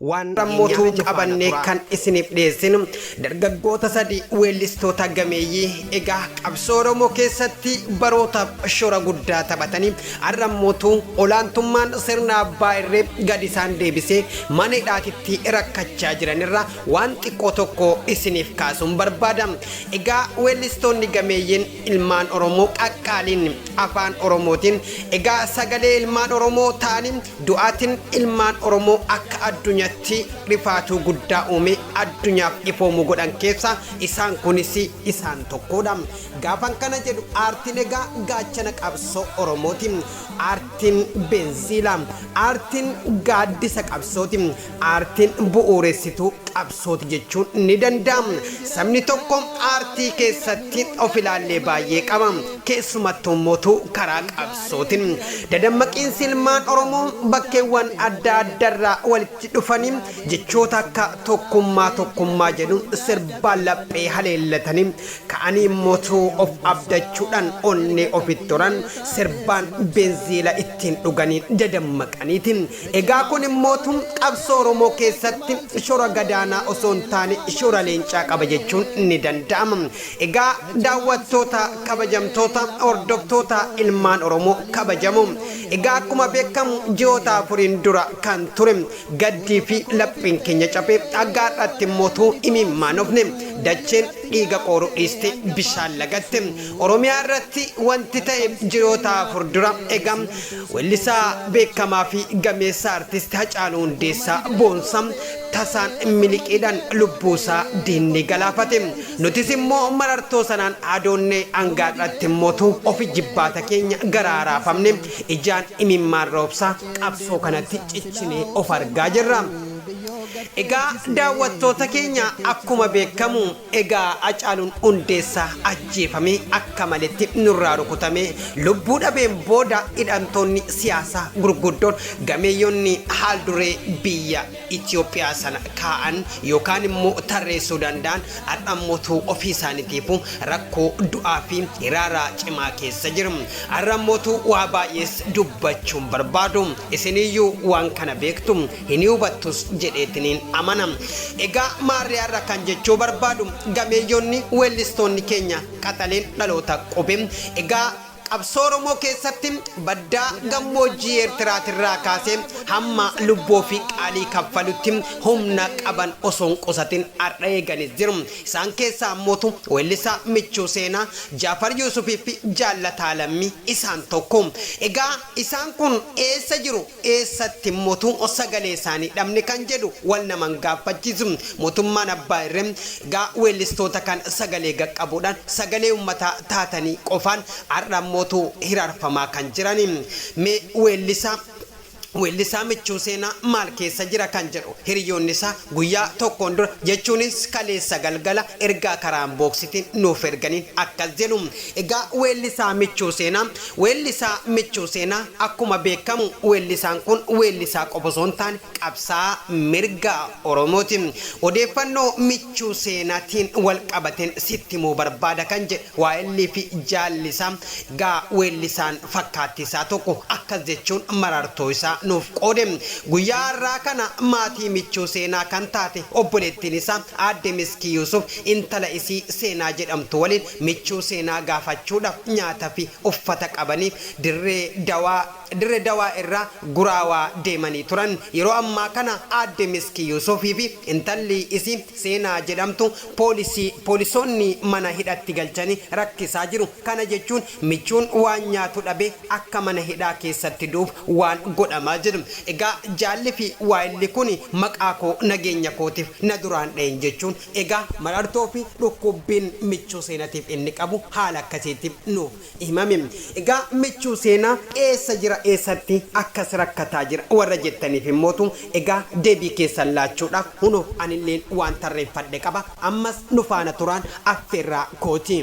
Waan Rammotuu qabanne kan isiniif dhiyeessinu dargaggoota sadii weellistoota gameeyyii egaa qabsoo Oromoo keessatti barootaaf shora guddaa taphatanii ar'ammotu olaantummaan sirna abbaa irree gad isaan deebisee mana hidhaatitti rakkachaa jiran irraa waan xiqqoo tokko isiniif kaasuun barbaada. Egaa weellistoonni gameeyyiin ilmaan Oromoo qaqqaaliin afaan Oromootiin egaa sagalee ilmaan Oromoo ta'anii Du'aatin ilmaan Oromoo akka addunyatti rifaatuu guddaa uumee addunyaaf ifoomu godhan keessa isaan kunis isaan tokkoodha. Gaafan kana jedhu aartin egaa gaachana qabsoo Oromooti. Aartin benziila. Aartin gaaddisa qabsooti. Aartiin bu'uuressituu qabsooti jechuun ni danda'ama. Sabni tokko aartii keessatti of ilaallee baay'ee qaba. Keessumattuummotu karaa qabsootin. Dadammaqiinsi ilmaan Oromoo bakkeewwan adda addarraa walitti dhufanii jechoota akka tokkummaa tokkummaa jedhu sirbaan laphee haleellatanii Ka'anii motuu of abdachuudhaan onnee ofitti horan, sirbaan benziila ittiin dhuganii dadammaqaniiti. Egaa kun immootu qabsoo Oromoo keessatti shora gadaanaa osoo hin taane shora leencaa qaba jechuun ni danda'ama. Egaa daawwattoota kabajamtoota, hordoftoota ilmaan Oromoo kabajamoo! Egaa akkuma beekamu ji'oota afuriin dura kan ture, Gaddii fi laphiin keenya cabe, hagga har'aatti immoo utuu imimmaan ofne dacheen dhiiga qooruu dhiistee bishaan lagatte. Oromiyaa irratti wanti ta'e ji'oota afur dura ega weellisaa beekamaa fi gameessa Artisti Hacaaluu Hundeessaa boonsa tasaan miliqiidhaan lubbuu isaa diinni galaafate. Nutis immoo marartoo sanaan adoonnee hanga har'aatti immoo utuu of ijibbaata keenya garaa raafamne ijaan imimmaan roobsaa qabsoo kanatti cichinee of argaa jirra. Egaa daawwattoota keenya akkuma beekamu egaa Acaaluun Hundeessaa ajjeefamee akka maletti nurraa rukutamee lubbuu dhabeen booda hidhamtoonni siyaasaa gurguddoon gameeyyonni haal duree biyya Itiyoophiyaa sana kaa'an yookaan immoo tarreessuu danda'an har'a immootu ofii isaaniitiifuu rakkoo du'aa fi hiraara cimaa keessa jiru. Har'a immootu waa baay'ees dubbachuu hin barbaadu. Isiniyyuu waan kana beektu, hin hubattus jedheetiniin amana. Egaa maarree har'a kan jechuu barbaadu gameeyyonni weellistoonni keenya qaxaleen dhaloota qubee egaa Qabsoo Oromoo keessatti baddaa gammoojjii Eertiraatirraa kaasee hamma lubbuu ofii qaalii kaffalutti humna qaban osoo hin qusatin har'a eeganis jiru. Isaan keessaa ammootu weellisaa Michuu Seenaa, Jaafar Yuusufiifi Jaallataa Lammii isaan tokko. Egaa isaan kun eessa jiru? eessatti motu sagalee isaanii dhabne kan jedhu wal naman gaaffachiisu motummaan abbaa irre gaa weellistoota kan sagalee gaqqabuudhaan sagalee ummataa taatanii qofaan ar'an motu hiraarfamaa kan jirani mee weellisaa weellisaa michuu seenaa maal keessa jira kan jedhu hiriyoonni isaa guyyaa tokkoon dura jechuunis kaleessa galgala ergaa karaa inbox tiin nuuf erganiin akkas jedhu egaa weellisaa michuu seenaa Weellisaa Michuu Seenaa Akkuma beekkamu weellisaan kun weellisaa qofa osoo hin taane qabsaa'aa mirga Oromooti. Odeeffannoo Michuu Seenaatiin walqabateen sitti himuu barbaada kan jedhe waayilli fi jaalli isaa egaa weellisaan fakkaattii isaa tokko akkas jechuun marartoo isaa nuuf qoode. Guyyaa har'aa kana maatii Michuu Seenaa kan taate obboleettiin isaa aadde Miskii Yuusuf intala isii Seenaa jedhamtu waliin Michuu seenaa gaafachuudhaaf nyaata fi uffata qabaniif Dirree Dawaa, Dirre Dawaa irraa Guraawaa deemanii turan. Yeroo ammaa kana Aadde Miski Yuusuf fi intalli isii Seenaa jedhamtu poolisii, poolisoonni mana hidhatti galchanii rakkisaa jiru. Kana jechuun michuun waan nyaatu dhabee akka mana hidhaa keessatti du'uuf waan godhamaa jiru. Egaa jaalli fi waayilli kuni maqaa koo nageenya kootiif na duraan dhahin jechuun Egaa marartoo fi dhukkubbiin michuu seenatiif inni qabu haala akkasiitti nuuf himame. Egaa michuu seenaa eessa jira eessatti akkas rakkataa jira warra jettaniif immootu egaa deebii keessan laachuudha huno anilleen waan tarreeffadhe qaba ammas nu faana turaan affeerraa kooti.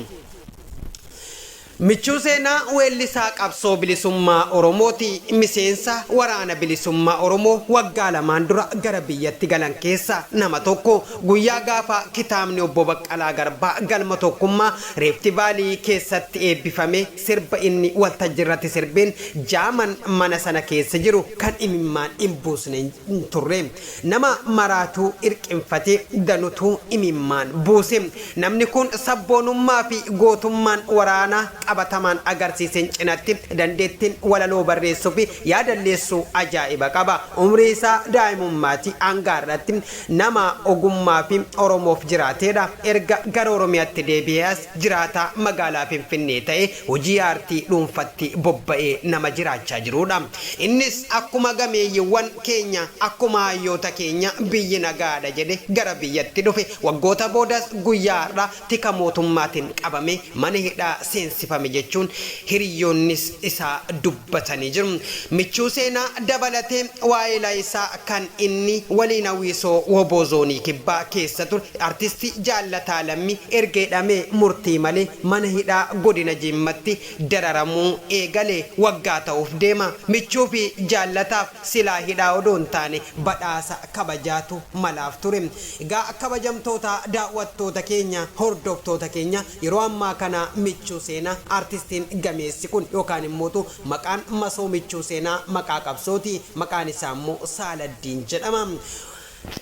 Michuu Seenaa Weellisaa Qabsoo Bilisummaa Oromooti. Miseensa Waraana Bilisummaa Oromoo waggaa lamaan dura gara biyyatti galan keessaa nama tokko. Guyyaa gaafa kitaabni Obbo Baqqalaa Garbaa Galma Tokkummaa, Rift Valley, keessatti eebbifame sirba inni waltajjirratti sirbeen jaaman mana sana keessa jiru kan imimmaan hin buusne hin turre. Nama maraatuu hirqinfatee ganutu imimmaan buuse. Namni kun sabboonummaa fi gootummaan waraana qabatamaan agarsiisen cinatti dandeettiin walaloo barreessuu fi yaadalleessuu ajaa'iba qaba. Umrii isaa daa'imummaatii hanga har'atti nama ogummaa fi Oromoof jiraateedha. Erga gara Oromiyaatti deebi'ee as jiraataa magaalaa Finfinnee ta'ee hojii aartii dhuunfatti bobba'ee nama jiraachaa jiruudha. Innis akkuma gameeyyiwwan keenya, akkuma hayyoota keenya biyyi nagaadha jedhe gara biyyatti dhufe. Waggoota boodas guyyaa har'aa tika mootummaatin qabamee mana hidhaa seensifame jechuun hiriyyoonnis isaa dubbatu. batanii jiru. Michuu Seenaa dabalatee waayila isaa kan inni waliin Hawwisoo wbo Zoonii Kibbaa keessa ture Artisti Jaallataa Lammii erga hidhamee murtii malee mana hidhaa Godina Jimmatti dararamuu eegale waggaa ta'uuf deema. Michuu fi Jaallataaf silaa hidhaa odoo hin taane badhaasa kabajaatu malaaf ture. Egaa kabajamtoota daawwattoota keenya, hordoftoota keenya Yeroo ammaa kana Michuu Seenaa Artistiin gameessi kun yookaan immootu maqaan masoo Michuu Seenaa maqaa qabsooti. Maqaan isaa immoo Saaladdiin jedhama.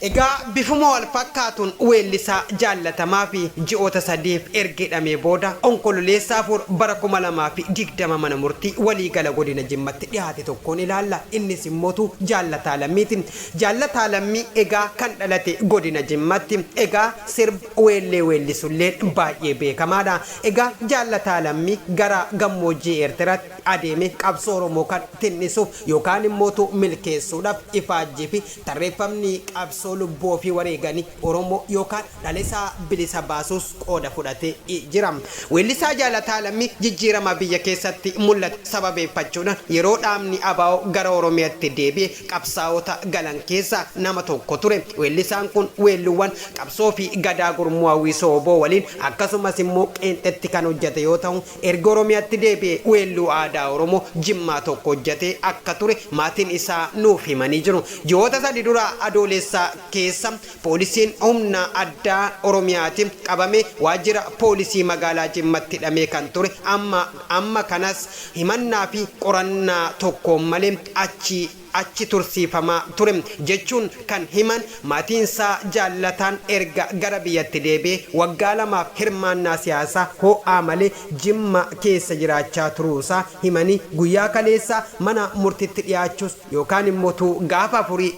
Egaa bifuma wal fakkaatuun weellisaa jaallatamaa fi ji'oota sadiif erga hidhamee booda Onkololeessa 4 bara 2020 mana murtii waliigala godina Jimmatti dhihaate tokkoon ilaalla. Innis immootu Jaallataa Lammiiti. Jaallataa Lammii egaa kan dhalate godina Jimmatti. Egaa sirba. Weellee weellisulleen baay'ee beekamaadha. Egaa Jaallataa Lammii gara gammoojjii Eertiraatti adeemee qabsoo Oromoo kan tin'isuuf yookaan immootu milkeessuudhaaf ifaajjii fi tarreeffamni qabsoo lubbuu ofii wareeganii Oromoo yookaan dhalesaa bilisa baasuus qooda fudhatee jira. Weellisaa Jaalataa Lammii jijjiirama biyya keessatti mul'ate sababeeffachuudhaan yeroo dhaabni abo gara Oromiyatti deebi'e qabsaa'ota galan keessaa nama tokko ture. Weellisaan kun weelluuwwan qabsoo fi gadaa gurmuu hawwisoo wbo waliin akkasumas immoo qeenxetti kan hojjate yoo tahu erga Oromiyaatti deebi'ee weelluu aadaa Oromoo Jimmaa tokko hojjatee akka ture maatiin isaa nuuf himanii jiru. Ji'oota sadi dura Adooleessa keessa Poolisiin humna addaa Oromiyaatin qabamee waajjira poolisii magaalaa Jimmatti hidhamee kan ture amma amma kanas himannaa fi qorannaa tokkoon malee achi achi tursiifamaa ture jechuun kan himan maatiinsaa Jaallataan erga gara biyyatti deebi'ee waggaa lamaaf hirmaannaa siyaasaa ho'aa malee Jimma keessa jiraachaa turuusaa himanii guyyaa kaleessaa mana murtitti dhiyaachuus yookaan immoo tuu gaafa afurii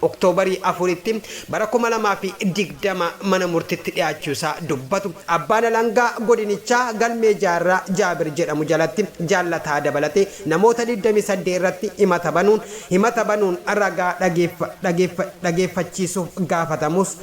Oktoobarii 4tti bara 2020 mana murtitti dhiyaachuu isaa dubbatu abbaan alangaa godinichaa galmee Jaarraa Jaabir jedhamu jalatti Jaallataa dabalatee namoota 28 irratti himata banuun himata banuun ragaa dhageeffachiisuuf gaafatamus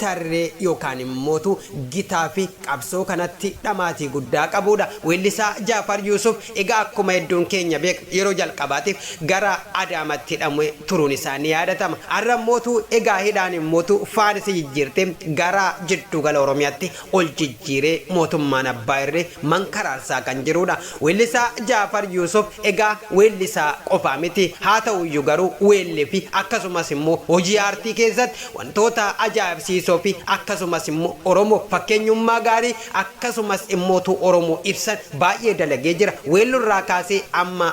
tarree yookaan immootu gitaa fi qabsoo kanatti dhamaatii guddaa qabuudha. Weellisaa Jaafar Yuusuf egaa akkuma hedduun keenya beeknu yeroo jalqabaatiif gara Adaamaatti hidhamee turuun isaa ni yaadatama. Har'a immootu egaa hidhaan immootu faan isa jijjiirtee gara jiddugala Oromiyaatti ol jijjiiree mootummaan abbaa irree mankaraarsaa kan jiruudha. Weellisaa Jaafar Yuusuf egaa weellisaa qofaa miti. Haata'uyyuu garuu weelliifi akkasumas immoo hojii aartii keessatti wantoota ajaa'ibsiisoofi akkasumas immoo Oromoof fakkeenyummaa gaarii akkasumas immoo utuu Oromoo ibsan baay'ee dalagee jira. Weelluurraa kaasee amma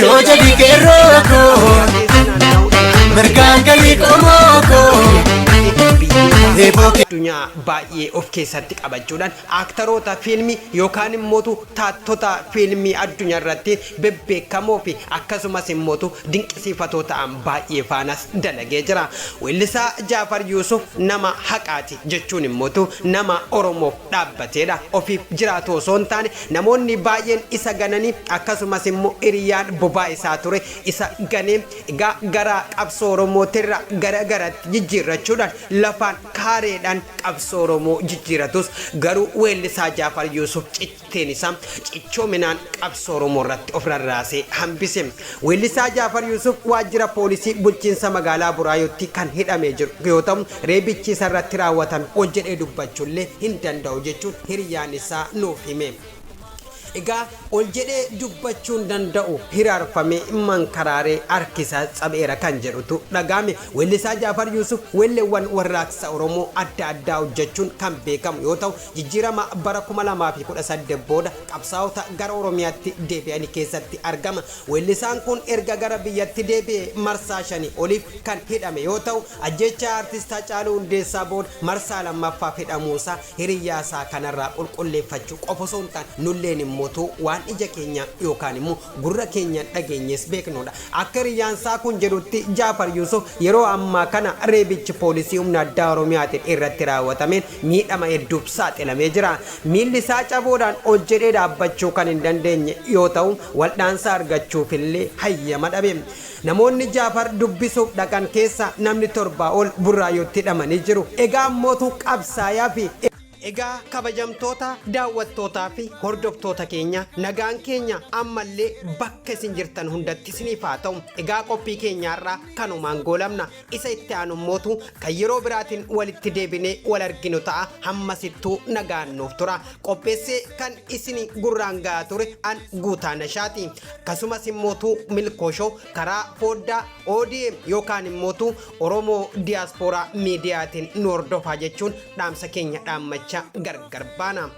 Yoo jedhi qeerroo koo mirgaan galii qomoo koo. Eeboo kee. addunyaa baay'ee of keessatti qabachuudhaan aaktaroota fiilmii yookaan immootu taattota fiilmii addunyaa irratti bebbeekamoo fi akkasumas immootu dinqisiifatoo ta'an baay'ee faanas dalagee jira. Weellisaa Jaafar Yuusuf nama haqaati jechuun immootu nama Oromoof dhaabbateedha. Ofiif jiraatu osoo hin taane namoonni baay'een isa gananii akkasumas immoo hiriyaan bobaa isaa ture isa ganee egaa garaa qabsoo Oromootirraa gara garatti jijjiirrachuudhaan lafaan kaareedhaan qabsoo Oromoo jijjiiratus garuu weellisaa Jaafar Yuusuf citteen isaa cichoominaan qabsoo Oromoo irratti of rarraasee hambise. Weellisaa Jaafar Yuusuf waajjira poolisii bulchiinsa magaalaa Buraayyuutti kan hidhamee jiru yoo ta'u, Reebichi isa irratti raawwatame ol jedhee dubbachuu illee hin danda'u jechuun hiriyaan isaa nuuf hime. Egaa ol jedhee dubbachuu hin danda'u, hiraarfamee, mankaraaree, harki isaas cabeera kan jedhutu dhaga'ame. Weellisaa Jaafar Yuusuf weelleewwan warraaqsa Oromoo adda addaa hojjechuun kan beekamu yoo ta'u, jijjiirama bara 2018 booda qabsaa'ota gara Oromiyaatti deebi'ani keessatti argama. Weellisaan kun erga gara biyyatti deebi'ee marsaa shanii oliif kan hidhame yoo ta'u, Ajjeechaa Artist Hacaaluu Hundeessaa booda marsaa lammaffaaf hidhamuusaa hiriyyaasaa kanarraa qulqulleeffachuu qofa osoo hin taane nulleen immoo utuu waan ija keenyaan yookaan immoo gurra keenyaan dhageenyees beeknudha. Akka hiriyyaansaa kun jedhutti Jaafar Yuusuf yeroo ammaa kana reebichi poolisii humna addaa Oromiyaatiin irratti raawwatameen miidhama hedduuf saaxilamee jira. Miillisaa cabuudhaan ol jedhee dhaabbachuu kan hin dandeenye yoo ta'u, waldhaansa argachuufillee hayyama dhabe. Namoonni Jaafar dubbisuuf dhaqan keessaa namni torbaa ol Burraayuutti hidhamanii jiru. Egaa ammootu qabsaayaa fi. Egaa kabajamtoota daawwattootaa fi hordoftoota keenya nagaan keenya ammallee bakka isin jirtan hundatti isiniif haa ta'u. Egaa qophii keenya har'aa kanumaan goolabna. Isa itti aanu immootu kan yeroo biraatiin walitti deebinee wal arginu ta'a. Hammasittuu nagaan nuuf tura. Qopheessee kan isin gurraan gahaa ture an guutaa nashaati. Akkasumas immootu Milkoo Show karaa fooddaa ODM yookaan immootu Oromoo Diyaaspooraa Miidiyaatiin nu hordofaa jechuun dhaamsa keenya dhaammachaa gargar baana.